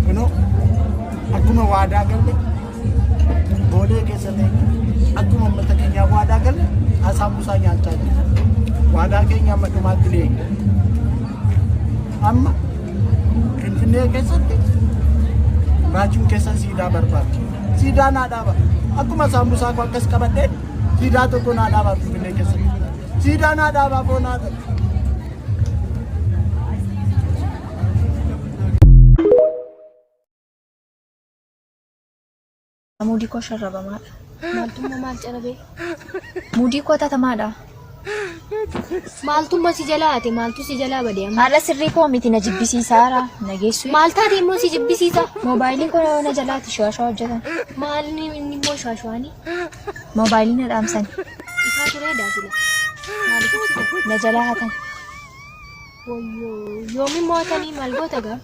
Kunoo akkuma waadaa galle boolee keessa ta'e akkuma uummata keenyaa waadaa galle asaa buusaa nyaachaa jira. Waadaa keenya amma dhumaatti ni eegna. Amma Finfinnee keessatti raajuun keessa siidaa barbaada. Siidaa naa dhaaba. Akkuma saambusaa koo akkas qabadhee siidaa tokko naa dhaaba Finfinnee keessatti. Siidaa naa dhaabaa koo naa dhaabaa. Muudii koo sharrabamaadha. Maaltummaa maal carabee? Muudii koo tatamaadha. Maaltummaa si jalaa ate maaltu si jalaa bade amma? Haala sirrii koo miti na jibbisiisaara. Na geessu. Maal taate immoo si jibbisiisa? Moobaayilii koo na jalaati shawashaa hojjetan. Maal inni immoo shaashaanii? Moobaayilii na dhaamsan. Ifaa turee daasila. Maaliif ibsite? Na jalaa hatan. Woyyoo yoomi mootanii maal goota gaa?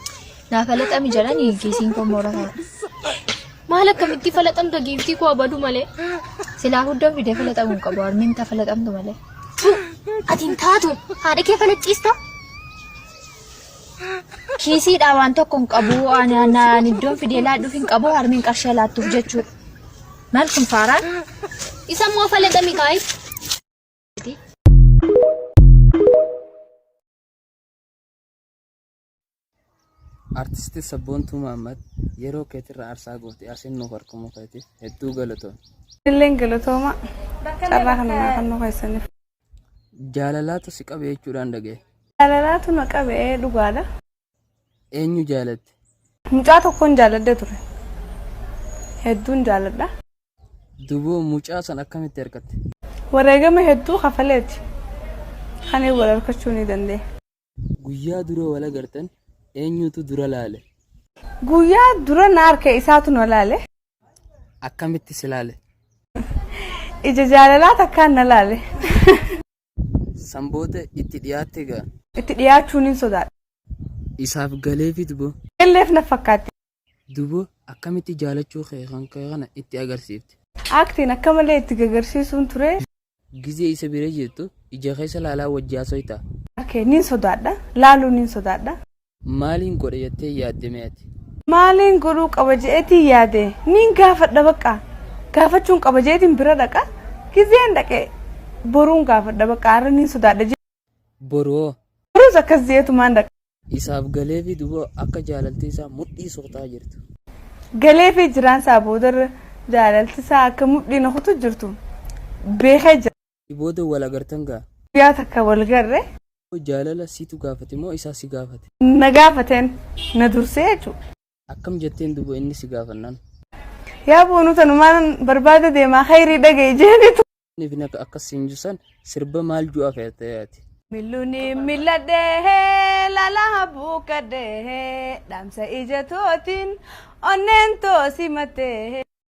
Naa falaxami jedhani kiisiin koo moora kana. Maal akkamitti falaxamta giiftii koo abadu malee? Silaa huddan fidee falaxamu hin qabu. Harmeen ta falaxamtu malee. Ati hin taatu haadha kee falaxxiista? Kiisiidha waan tokko hin qabu. Ani ani iddoon fidee laadhuuf hin qabu. Harmeen qarshii laattuuf jechuudha. Maal kun faaraan? Isa immoo falaxa Mikaa'el. Artisti Sabboontuu Mahammad yeroo keetirra aarsaa goote asiin nuuf argamuu keetiif hedduu galatoom. Illeen galatooma carraa kana naa kannuu keessaniif. Jaalalaatu si qabe jechuudhaan dhagahe. Jaalalaatu na qabe dhugaadha. Eenyu jaalatte? Mucaa tokkon jaaladha ture. Hedduun jaaladha. Duboo mucaa san akkamitti argatte? Wareegama hedduu kafaleeti kani wal arkachuu ni danda'e. Guyyaa dura wal agartan eenyutu dura laale? Guyyaa dura na arke isaatu na laale. Akkamitti si laale? Ija jaalalaa takkaan na laale. San booda itti dhiyaatte gaa. Itti dhiyaachuu nin sodaadhe. Isaaf galeefi duboo. Galleef na fakkaatti. Duboo akkamitti jaalachuu kee kan kee kana itti agarsiifte. Acting akka malee itti gagarsiisuun ture. Gizee isa bira jirtu ija keessa laalaa wajji haasoytaa. Harkee nin sodaadha. Laaluu nin sodaadha. Maaliin godha jettee yaadde mee ati? Maaliin godhuu qaba je'eetiin yaade? Niin gaafadha baqqa. Gaafachuun qaba je'eetiin bira dhaqa. Gizeen dhaqe boruun gaafadha baqqa arra niin sodaadha je'e. Boru hoo? Borus akkas je'eetumaan dhaqa. Isaaf galeefii duuba akka jaalaltii isaa mudhii suqxaa jirtu. Galeefii jiraan isaa boodarra jaalalti isaa akka mudhii na kutu jirtu beekee jira. Si booda wal agartan gaa. Guyyaa takka wal garre. Moo jaalala situ gaafate moo isaa si gaafate? Na gaafateen na dursee jechu. Akkam jetteen duba inni si gaafannaan? Yaa boonuu tanumaan barbaada deemaa khayrii dhaga'i jeenitu. Inni fi naka akkas siin jusan sirba maal ju'aa fe'atee ati? Milluni milladhee lala buukkadhee dhaamsa ija tootiin onneen too simattee.